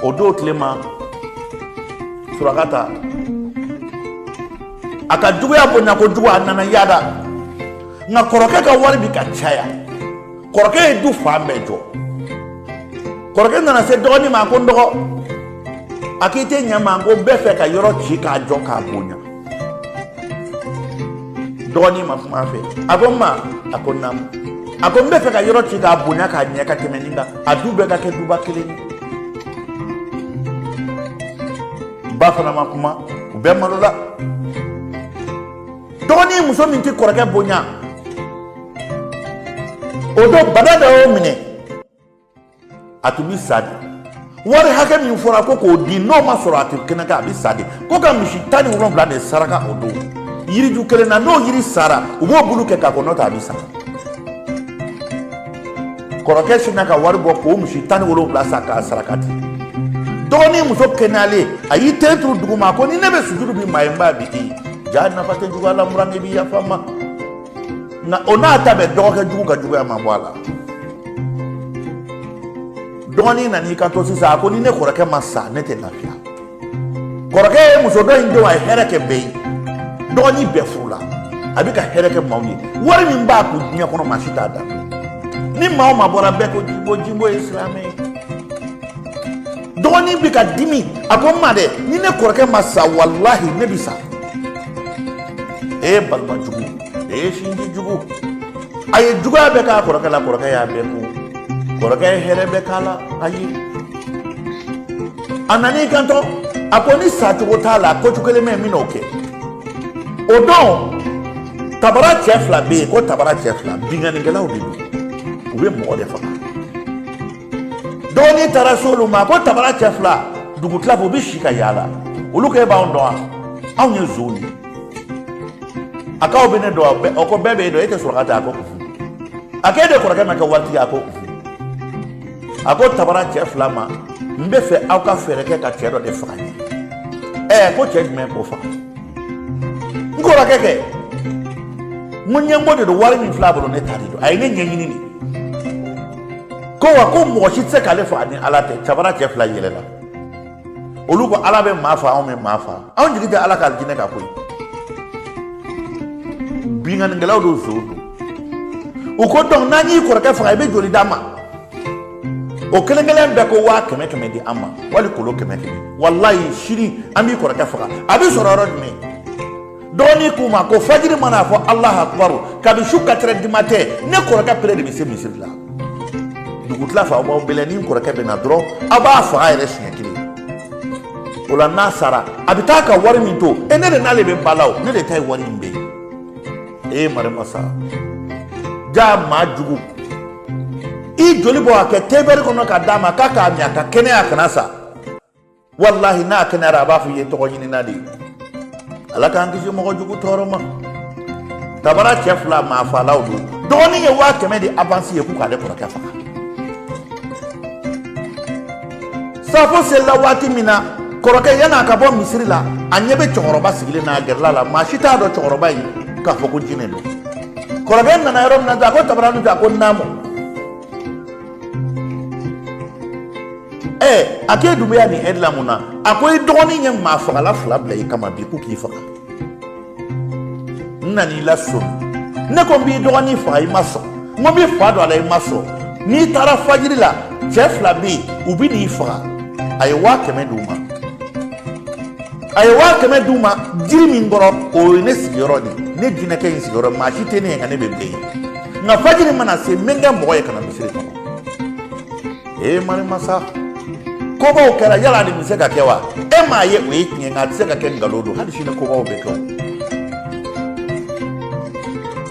o don tile ma surakata a ka juguya bonya kojugu a nana yada nka kɔrɔkɛ ka wari bi ka caya kɔrɔkɛ ye du fan bɛɛ jɔ kɔrɔkɛ nana se dɔgɔnin ma ko n dɔgɔ a k'i tɛ ɲɛ n ma ko n bɛ fɛ ka yɔrɔ ci k'a jɔ k'a bonya dɔgɔnin ma kuma fɛ a ko n ma a ko naamu a ko n bɛ fɛ ka yɔrɔ ci k'a bonya k'a ɲɛ ka tɛmɛ nin kan a du bɛɛ ka kɛ duba kelen ye ba fana ma kuma u bɛɛ malola dɔgɔnin muso min tɛ kɔrɔkɛ bonya o don bana dɔ y'o minɛ a tun bɛ sa de wari hakɛ min fɔra ko k'o di n'o ma sɔrɔ a tɛ kɛnɛya k'a bɛ sa de ko ka misi tan ni wolonfila de saraka o don yiriju kelen na n'o yiri sara u b'o bulu kɛ k'a ko n'o tɛ a bɛ sa kɔrɔkɛ sinna ka wari bɔ k'o misi tan ni wolonfila san k'a saraka di dɔgɔnin muso kɛnɛyalen a y'i ten turu duguma ko ni ne bɛ sujuru bi maa ye n b'a bi i jaa nafa tɛ juguya la n buran e b'i yafa n ma nka o n'a ta bɛɛ dɔgɔkɛ jugu ka juguya ma bɔ a la dɔgɔnin nan'i kanto sisan a ko ni ne kɔrɔkɛ ma sa ne tɛ lafiya kɔrɔkɛ ye muso dɔ in denw a ye hɛrɛ kɛ bɛɛ ye dɔgɔnin bɛɛ furula a bɛ ka hɛrɛ kɛ maaw ye wari min b'a kun diɲɛ kɔnɔ maa si t'a dan ni maa o maa bɔra bɛɛ ko jinbo jinbo ye silamɛ ye dɔgɔnin bɛ ka dimi a ko n ma dɛ ni ne kɔrɔkɛ ma sa walahi ne bɛ sa e ye balima jugu e ye sinji jugu a ye juguya bɛɛ k'a kɔrɔkɛ la kɔrɔkɛ y'a bɛɛ kun kɔrɔkɛ ye hɛrɛ bɛɛ k'a la ayi a nan'i kanto a ko ni sacogo t'a la ko cogo kelen bɛ n bɛ n'o kɛ o don tabara cɛ fila bɛ yen ko tabara cɛ fila binkannikɛlaw de don u bɛ mɔgɔ de faga dɔgɔnin taara se olu ma ko tabara cɛ fila dugu tila fɛ u bɛ si ka yaala olu ko e b'anw dɔn wa anw ye nsonw ye a k'aw bɛ ne dɔn wa o ko bɛɛ b'e dɔn e tɛ surakata ye a ko unhun a k'e de kɔrɔkɛ ma kɛ waritigi ye a ko unhun a ko tabara cɛ fila ma n bɛ fɛ aw ka fɛɛrɛ kɛ ka cɛ dɔ de faga n ye ɛɛ ko cɛ jumɛn k'o faga n kɔrɔkɛ kɛ mɔgɔ ɲɛngo de don wari min filɛ a bolo ne ta de don a ye ne ɲɛɲini de ko wa ko mɔgɔ si tɛ se k'ale faga ni ala tɛ tabara cɛ fila yɛlɛla olu ko ala bɛ maa faga anw bɛ maa faga anw jigi tɛ ala k'alijinɛ kan koyi binkannikɛlaw don nsonw don u ko dɔnku n'an y'i kɔrɔkɛ faga i bɛ joli d'an ma o kelen kelen bɛɛ ko waa kɛmɛ kɛmɛ di an ma wari kolo kɛmɛ kɛmɛ walayi sini an b'i kɔrɔkɛ faga a bɛ sɔrɔ yɔrɔ jumɛn dɔgɔnin k'u ma ko fajiri mana fɔ alahu akubaru kabi su quatre heures du matin ne kɔrɔkɛ pere de bɛ se misiri la dugutila fɛ aw b'aw bɛlɛn ni n kɔrɔkɛ bɛ na dɔrɔn aw b'a faga yɛrɛ siɲɛ kelen o la n'a sara a bɛ taa ka wari min to yen ne de n'ale bɛ ba la o ne de ta ye wari in bɛɛ ye e marimasa jaa maa jugu i joli bɔ k'a kɛ tebɛri kɔnɔ ka d'a ma k'a k'a min a ka kɛnɛya kana sa walahi n'a kɛnɛyara a b'a fɔ i ye tɔgɔɲinina de ye ala k'an kisi mɔgɔ jugu tɔɔrɔ ma tabara cɛ fila maa fagalaw don dɔgɔnin ye waa kɛmɛ di avansi ye k'u k'ale kɔrɔkɛ faga safo selila waati min na kɔrɔkɛ yan'a ka bɔ misiri la a ɲɛ bɛ cɛkɔrɔba sigilen n'a gɛrɛla la maa si t'a dɔn cɛkɔrɔba ye k'a fɔ ko jinɛ don kɔrɔkɛ nana yɔrɔ min na a ko tabara dun a ko naamu a k'e dun bɛ yan nin ɛri la mun na a ko i dɔgɔnin ye maa fagala fila bila i kama bi k'u k'i faga n nan'i lasɔmi ne ko n b'i dɔgɔnin faga i ma sɔn n ko n bɛ fa don a la i ma sɔn n'i taara fajiri la cɛ fila bɛ yen u bɛ n'i faga a ye waa kɛmɛ d'u ma a ye waa kɛmɛ d'u ma jiri min kɔrɔ o ye ne sigiyɔrɔ de ye ne jinɛkɛ in sigiyɔrɔ maa si tɛ ne ye nka ne bɛ bɛɛ ye nka fajiri mana se n bɛ n kɛ mɔgɔ ye ka na misiri kɔnɔ ee marimasa kobaw kɛra yala nin bɛ se ka kɛ wa e m'a ye o ye tiɲɛ nka a tɛ se ka kɛ nkalon don hali sini kobaw bɛ kɛ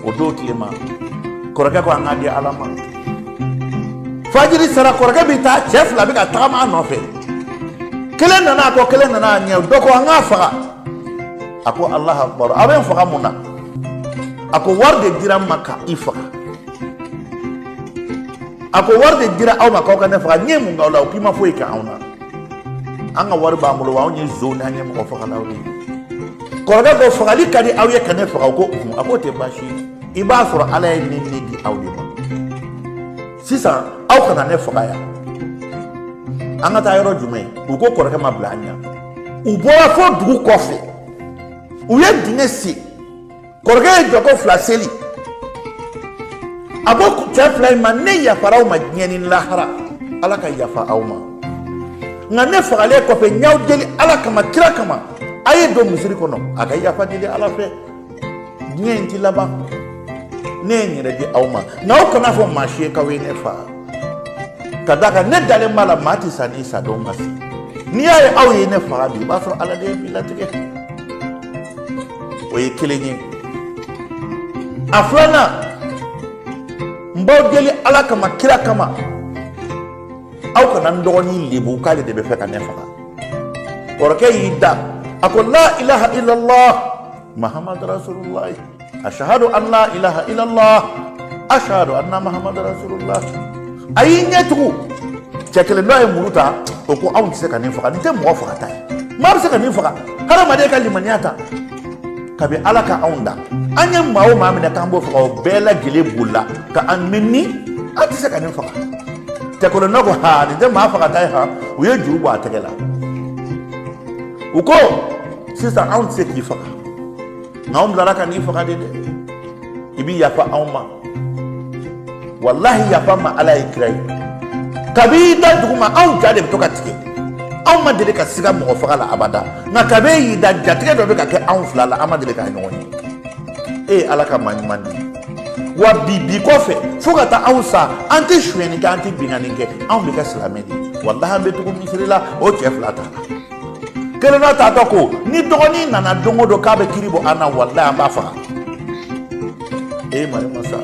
o don tile ma kɔrɔkɛ ko an k'a di ala ma fajiri sera kɔrɔkɛ bɛ taa cɛ fila bɛ ka tagama a nɔfɛ kelen nana a kɔ kelen nana a ɲɛ dɔ ko an k'a faga a ko alah akbar aw bɛ n faga mun na a ko wari de dira an ma ka i faga a ko wari de dira aw ma k'aw ka ne faga n ye mun k'aw la u k'i ma foyi kɛ anw na an ka wari b'an bolo wa anw ye zonw ye an ye mɔgɔ fagalaw de ye kɔrɔkɛ ko fagali ka di aw ye ka ne faga o ko kun a k'o tɛ baasi ye i b'a sɔrɔ ala ye ne ni di aw de ma sisan aw kana ne faga yan an ka taa yɔrɔ jumɛn u ko kɔrɔkɛ ma bila an ɲɛ u bɔra fo dugu kɔfɛ u ye dingɛ sen kɔrɔkɛ ye jɔkɔ fila seli a ko cɛ fila in ma ne yafara aw ma diɲɛ ni lahara ala ka yafa aw ma nka ne fagalen kɔfɛ n y'aw deli ala kama kira kama a ye don misiri kɔnɔ a ka yafa deli ala fɛ diɲɛ in ti laban ne ye n yɛrɛ di aw ma nka aw kan'a fɔ maa si ye k'aw ye ne faga ka d'a kan ne dalen b'a la maa tɛ sa n'i sadon ma se n'i y'a ye aw ye ne faga bi i b'a sɔrɔ ala de ye bi latigɛ o ye kelen ye a filanan n b'aw deli ala kama kira kama aw kana n dɔgɔnin lebu k'ale de bɛ fɛ ka ne faga kɔrɔkɛ y'i da a ko la ilaha illallah mahamadu rasulullah ashahadu an la ilaha illallah ashahadu anna mahamadu rasulullah a y'i ɲɛ tugu cɛ kelen dɔ ye muru ta o ko anw tɛ se ka nin faga nin tɛ mɔgɔ fagata ye maa bɛ se ka nin faga hadamaden ka limaniya ta kabi ala ka anw da an ye maa o maa minɛ k'an b'o faga o bɛɛ lajɛlen bolila ka an nɛni an tɛ se ka nin faga cɛ kelen dɔ ko ha nin tɛ maa fagata ye ha u ye juru bɔ a tɛgɛ la u ko sisan anw tɛ se k'i faga nka anw bilara ka n'i faga de dɛ i bi yafa anw ma walahi yafa ma ala ye kira ye kabi i da dugu ma anw ja de bɛ to ka tigɛ anw ma deli ka siga mɔgɔ faga la abada nka kabi e y'i da jatigɛ dɔ bɛ ka kɛ anw fila la an ma deli k'a ɲɔgɔn ye e ye ala ka maa ɲuman de ye wa bi bi kɔfɛ fo ka taa anw sa an tɛ sonyɛni kɛ an tɛ binkanni kɛ anw bɛ kɛ silamɛ de ye walahi an bɛ tugu misiri la o cɛ fila taala kelen dɔ taatɔ ko ni dɔgɔnin nana don o don k'a bɛ kiri bɔ an na walayi an b'a faga e mari masa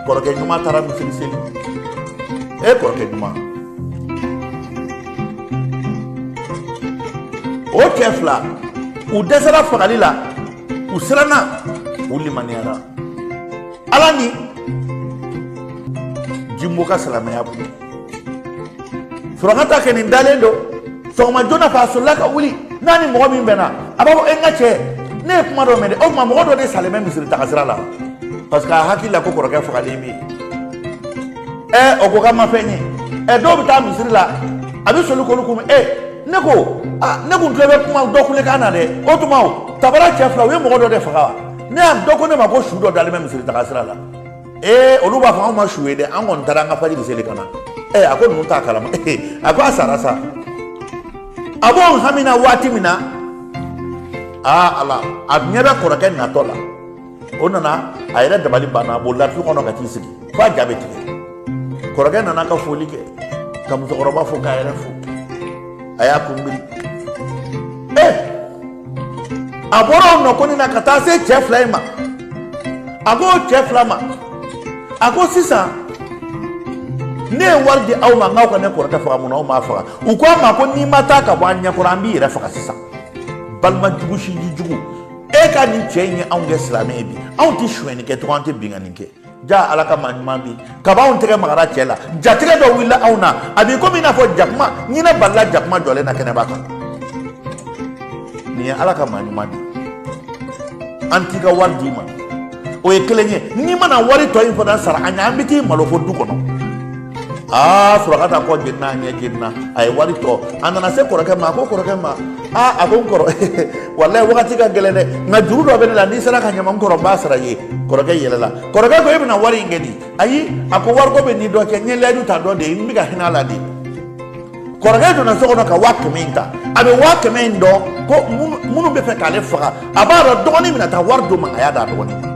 kɔrɔkɛ ɲuman taara misiri seli e kɔrɔkɛ ɲuman o cɛ fila u dɛsɛra fagali la u siranna u limaniyara ala ni jimbo ka silamɛya bolo surakata kɛ nin dalen don sɔgɔma joona fɛ a solila ka wuli n'a ni mɔgɔ min bɛnna a b'a fɔ e n ka cɛ ne ye kuma dɔ mɛn dɛ o tuma mɔgɔ dɔ de salen bɛ misiri taga sira la parce que a hakili la ko kɔrɔkɛ fagalen bɛ yen ɛ o ko k'a ma fɛn ye ɛ dɔw bɛ taa misiri la a bɛ soli k'olu kunbɛn ɛ ne ko aa ne kun tulo bɛ kuma dɔ kulekan na dɛ o tuma o tabara cɛ fila u ye mɔgɔ dɔ de faga wa ne y'a dɔ ko ne ma ko su dɔ dalen bɛ misiri taga sira la ee olu b'a fɔ anw ma su ye dɛ an kɔni taara an ka fajiri seli ka na ee a ko ninnu t'a kalama a ko a sara sa a b'o hami na waati min na aa ala a ɲɛ bɛ kɔrɔkɛ natɔ la o nana a yɛrɛ dabali banna a bolila tu kɔnɔ ka t'i sigi fo a ja bɛ tigɛ kɔrɔkɛ nana ka foli kɛ ka musokɔrɔba fo k'a yɛrɛ fo a y'a kunbiri ee a bɔra o nɔgɔni na ka taa se cɛ fila in ma a ko cɛ fila ma a ko sisan ne ye wari di aw ma n k'aw ka ne kɔrɔkɛ faga mun na aw m'a faga u ko a ma ko n'i ma taa ka bɔ an ɲɛ kɔrɔ an b'i yɛrɛ faga sisan balima jugu sinji jugu e ka nin cɛ in ye anw kɛ silamɛ ye bi anw tɛ sonyɛni kɛ tugun an tɛ binkanni kɛ ja ala ka maa ɲuman bi kaba anw tɛgɛ magara cɛ la jatigɛ dɔ wulila anw na a b'i komi i n'a fɔ jakuma ɲinɛ balala jakuma jɔlen na kɛnɛba kan nin ye ala ka maa ɲuman di an t'i ka wari d'i ma o ye kelen ye n'i ma na wari tɔ in fana sara an ye an bɛ t'i malo fo du kɔnɔ aa sɔrɔ ka taa kɔ jenina ɲɛ jenina a ye wari tɔ a nana se kɔrɔkɛ ma a ko kɔrɔkɛ ma aa a ko n kɔrɔ walayi wagati ka gɛlɛn dɛ nka juru dɔ bɛ ne la n'i sera ka ɲama n kɔrɔ n b'a sara i ye kɔrɔkɛ yɛlɛla kɔrɔkɛ ko e bɛna wari in kɛ di ayi a ko wariko bɛ n ni dɔ cɛ n ye layidu ta dɔ de ye n bɛ ka hinɛ a la de kɔrɔkɛ donna so kɔnɔ ka waa kɛmɛ in ta a bɛ waa kɛmɛ in dɔn ko minnu bɛ fɛ k'ale faga a b'a dɔn dɔgɔnin bɛna taa wari d'o ma a y'a d'a dɔgɔnin ma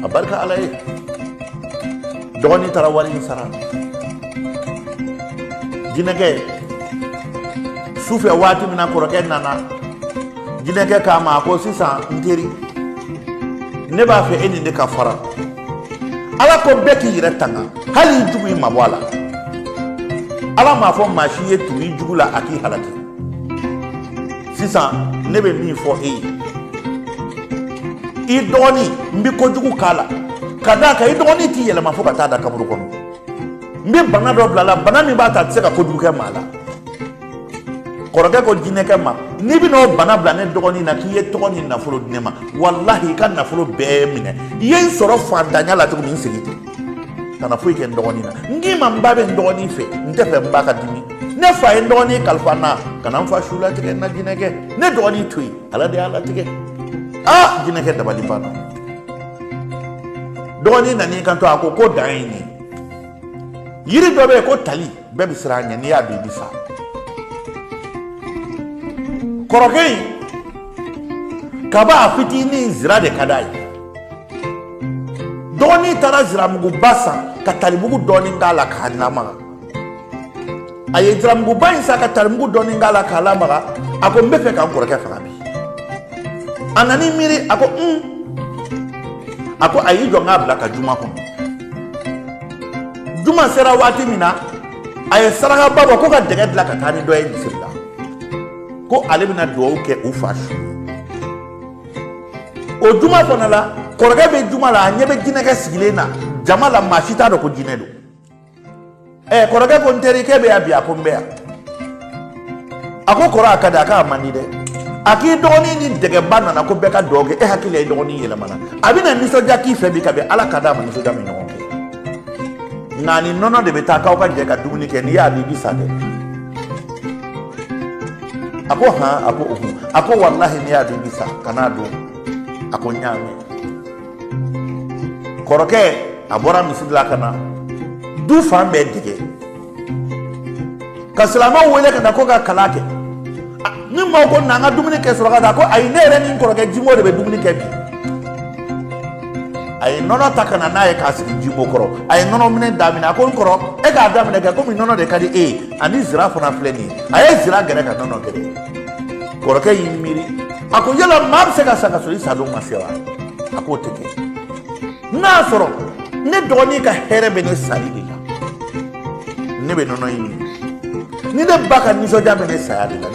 a barika ala ye dɔgɔnin taara wari in sara jinɛkɛ sufɛ waati min na kɔrɔkɛ nana jinɛkɛ k'a ma a ko sisan n teri ne b'a fɛ e ni ne ka fara ala ko bɛɛ k'i yɛrɛ tanga hali i jugu i mabɔ a la ala m'a fɔ maa si ye tugu i jugu la a k'i halaki sisan ne bɛ min fɔ e ye i dɔgɔnin n bɛ kojugu k'a la ka d'a kan i dɔgɔnin tɛ yɛlɛma fo ka taa da kaburu kɔnɔ n bɛ bana dɔ bila a la bana min b'a ta a tɛ se ka kojugu kɛ maa la kɔrɔkɛ ko jinɛkɛ ma n'i bɛna o bana bila ne dɔgɔnin na k'i ye tɔgɔ ni nafolo di ne ma walahi i ka nafolo bɛɛ minɛ i ye n sɔrɔ fantanya la cogo min n segin ten kana foyi kɛ n dɔgɔnin na n k'i ma n ba bɛ n dɔgɔnin fɛ n tɛ fɛ n ba ka dimi ne fa ye n dɔgɔnin kalifa n na kana n fa su latigɛ n na jinɛkɛ ne dɔgɔnin to yen ala de y'a latigɛ aa jinɛkɛ dabali banna dɔgɔnin nan'i kanto a ko ko dan ye nin ye yiri dɔ bɛ yen ko tali bɛɛ bɛ siran a ɲɛ n'i y'a dun i bɛ sa kɔrɔkɛ in kaba a fitinin zira de ka d'a ye dɔgɔnin taara ziramuguba san ka talimugu dɔɔnin k'a la k'a lamaga a ye ziramuguba in san ka talimugu dɔɔnin k'a la k'a lamaga a ko n bɛ fɛ ka n kɔrɔkɛ faga bi a nan'i miiri a ko un a ko a y'i jɔ n k'a bila ka juma kɔnɔ juma sera waati min na a ye sarakaba bɔ ko ka dɛgɛ dilan ka taa ni dɔ ye misiri la ko ale bɛna dugawu kɛ u fa su o juma fana la kɔrɔkɛ bɛ juma la a ɲɛ bɛ jinɛkɛ sigilen na jama la maa si t'a dɔn ko jinɛ don ɛ kɔrɔkɛ ko n terikɛ bɛ yan bi a ko n bɛ yan a ko kɔrɔ a ka di a k'a man di dɛ a k'i dɔgɔnin ni dɛgɛba nana ko bɛɛ ka dugawu kɛ e hakili la i dɔgɔnin yɛlɛmana a bɛna nisɔndiya k'i fɛ bi kabi ala k'a da a ma nisɔndiya min ɲɔgɔn kɛ nka ni nɔnɔ de bɛ taa k'aw ka jɛ ka dumuni kɛ n'i y'a dun i bɛ sa dɛ a ko han a ko ohun a ko walahi n'i y'a dun i bɛ sa kan'a dun a ko n y'a mɛn kɔrɔkɛ a bɔra misiri la ka na du fan bɛɛ dege ka silamɛw wele ka na ko ka kalan kɛ ni maaw ko na an ka dumuni kɛ surakata ko ayi ne yɛrɛ ni n kɔrɔkɛ jimo de bɛ dumuni kɛ bi a ye nɔnɔ ta ka na n'a ye k'a sigi jimo kɔrɔ a ye nɔnɔ minɛ daminɛ a ko n kɔrɔ e k'a daminɛ kɛ komi nɔnɔ de ka di e ye ani zira fana filɛ nin ye a ye zira gɛrɛ ka nɔnɔ gɛrɛ kɔrɔkɛ y'i miiri a ko yala maa bɛ se ka sa ka sɔrɔ i sadon ma se wa a k'o tɛ kɛ n'a y'a sɔrɔ ne dɔgɔnin ka hɛrɛ bɛ ne sali de la ne bɛ nɔnɔ in min ni ne ba ka nisɔndiya bɛ ne saya de la